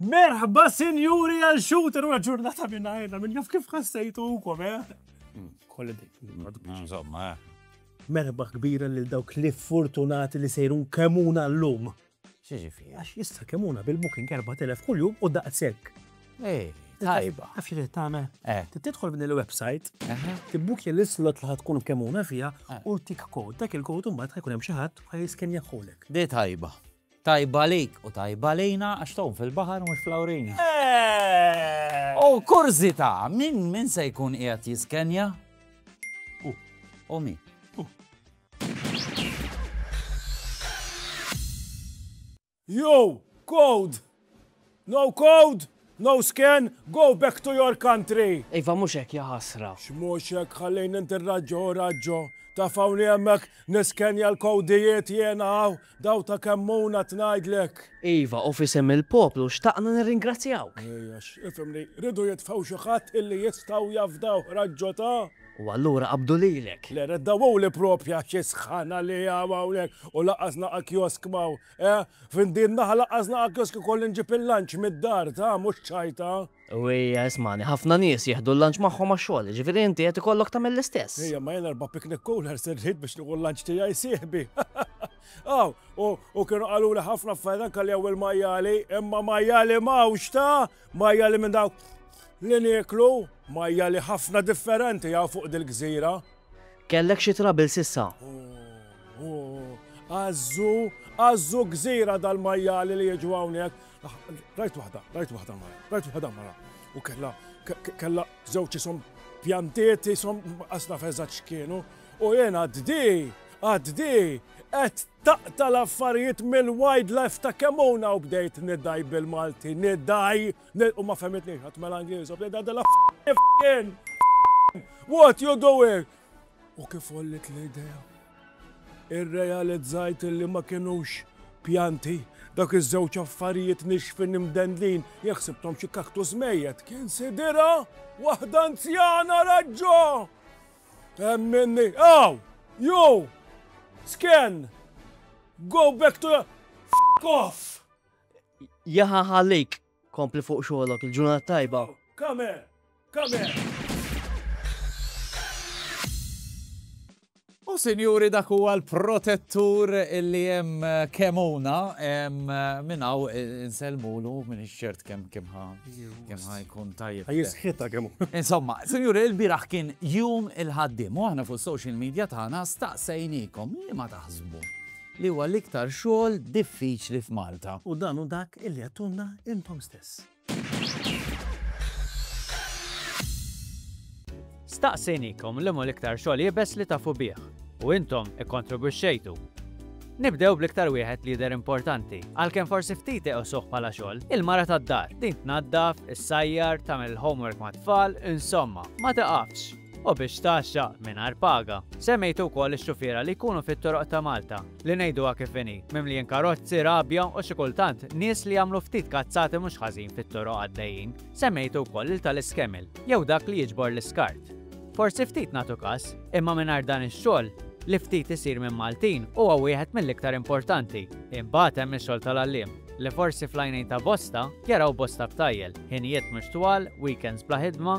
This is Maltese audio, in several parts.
Merħba sinjuri għal xut u ġurnata minna għajna, minn jaf kif ħassejtu u kom, eh? Mm. Kolli dik. Insomma, eh. Merħba kbira lil dawk li fortunati li sejrun kemuna l-lum. X'jiġifieri? Għax issa kemm huna bil-booking 4000 kuljum u daqshekk. Ej, tajba. Għax irid tagħmel? Eh. Tidħol minn il-website, tibbukja l-islot li ħatkun kemm huna fiha eh. u tik kod. Dak il-kod imbagħad ħajkun hemm xi ħadd ħajskenja ħolek. Di tajba. Tajba lejk u tajba lejna għax tawn fil-baħar mhux fl-awrina. Eh. U kurżità, min min se jkun qiegħed jiskenja? U mi. Yo, code! No code, no scan, go back to your country! Iva mhux hekk ja ħasra. X'mhux hekk ħallejni ntirraġġa u raġġo. Taf hawn li hemmhekk niskenja l-kowdijiet jiena hawn Daw ta' Kemmuna tngħidlek. Iva, u f'isem il-poplu xtaqna nirringrazzjawk. Ej, għax, ifhimni, riedu jitfgħu xi ħadd illi jistgħu jafdawh raġġo ta'. U allura qabdu lilek. Le, le, daw hu li proprja xi sħana li hawn hawnhekk u lanqas naqa' kiosk m'hawn, eh! F'din naħa lanqas naqa' kiosk ikolli nġib il-lunch mid-dar, ta', mhux ċaj, ta'. U hija, ismagħni, ħafna nies jieħdu l-lunch magħhom għax-xogħol, jiġifieri inti qed ikollok tagħmel l-istess. Hija, imma jien erba' picnic coolers irrid biex nieħu l-lunch tiegħi sieħbi. Aw, u kienu qaluli ħafna affarijiet anke li hawn il-majjali, imma majjali m'hawnx ta' majjali minn dawk li nieklu, majjali ħafna differenti hawn fuq dil-gżira. Kellek xi trouble s'issa? Għażżu, għażżu gżira dal-majjali li jiġu hawnhekk. Ah, rajt waħda, rajt waħda mara, rajt waħda mara. U kella, kella zewċi som pjantieti som asna fezaċ kienu. U jena għaddi, għaddi, għed taqta l-affarijiet mill-wildlife ta' kemona u bdejt nidaj bil-Malti, nidaj, u ma femitni, għat mela Ingliż, u bdejt għadda l-affarijiet. What you doing? U kif għolliet l-idea? Irrealizzajt li ma kinux pjanti, dak iż-żewġ affarijiet nixfin imdendlin, jekk ħsibthom xi kaktus mejjet, kien sidirha waħda anzjana raġġo! Hemm minni, aw! Ju! Sken! Go back to your f*** off! Jaħaħalik, Kompli fuq xogħlok, il-ġurnata tajba. Come, come. U sinjuri dak huwa l-protettur li hemm eh, kemuna eh, minn hawn eh, insellmulu minn ċert kemm kemm kemm jkun tajjeb. Jisħita kemm. Insomma, sinjuri l-biraħ kien jum il-ħaddim u aħna fuq social media tagħna staqsejnikom li ma taħsbu li huwa l-iktar xogħol diffiċli f'Malta. U dan hu dak illi għedtulna intom stess. Staqsejnikom liema l-iktar xogħol iebes li tafu bih u intom ikkontribwixxejtu. Nibdew bl-iktar wieħed li jidher importanti, għalkemm forsi ftit iqisuh bħala xogħol, il-mara tad-dar. Din tnaddaf, issajjar, tagħmel il-homework mat-tfal, insomma, ma tiqafx. u biex tgħaxxa mingħajr paga. Semmejtu wkoll ix-xufiera li jkunu fit-toroq ta' Malta, li ngħiduha kif inhi, mimlijin karozzi, rabja u xi kultant nies li jagħmlu ftit kazzati mhux ħażin fit-toroq għaddejjin. Semmejtu wkoll lil tal-iskemil, jew dak li jiġbor l-iskart. Forsi ftit nagħtu każ, imma mingħajr dan ix-xogħol, li ftit isir minn Maltin, huwa wieħed mill-iktar importanti. Imbagħad hemm ix-xogħol tal-għalliem, li forsi fl-għajnejn ta' bosta jaraw bosta btajjel, ħinijiet mhux twal, weekends bla ħidma,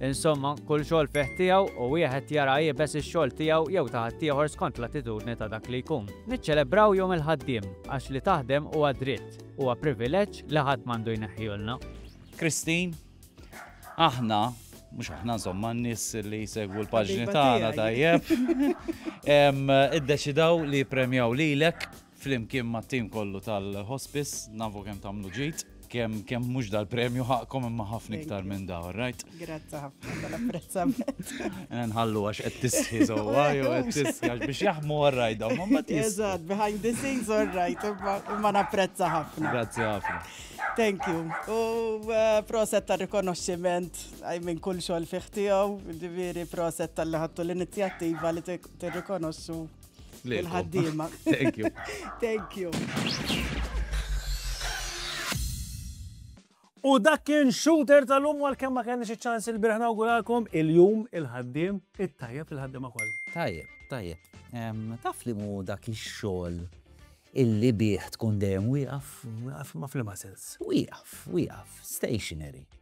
Insomma, kull xogħol fih tiegħu u wieħed jara iebes ix-xogħol tiegħu jew ta' ħaddieħor skont l-attitudni ta' dak li jkun. Niċċelebraw Jum il-Ħaddiem għax li taħdem huwa dritt, huwa privileġġ li ħadd m'għandu jneħħihulna. Christine, Aħna, mhux aħna insomma n-nies li jsegwu l-paġni tagħna tajjeb, iddeċidaw li jippremjaw lilek Flimkien mat-tim kollu tal-Hospice, nafu kemm tagħmlu ġid. Kemm kemm mhux dal-premju ħaqkom imma ħafna iktar minn da, all right? Grazzi ħafna tal-apprezzament. Nħallu għax qed tisħi żewwa jew qed tisħi għax biex jaħmu all right dawn ma ma tisħi. Eżatt, behind the scenes all right, imma- imma napprezza ħafna. Grazzi ħafna. Thank you. U eh, proset ta' rikonoxximent għaj minn kull xogħol fih tiegħu, ġifieri proset tal-li ħattu l-inizjattiva li tirrikonoxxu Il-ħaddiema. Thank you. Thank you. U dak kien shooter tal-lum għal kemm ma kenniex iċ-ċans il-birħ nawguralkom il-jum il-ħaddiem it-tajjeb il-ħaddiema kollha. Tajjeb, tajjeb. Taf li mu dak ix-xogħol illi bih tkun dejjem wieqaf, ma fl-ma sens. Wieqaf, wieqaf, stationary.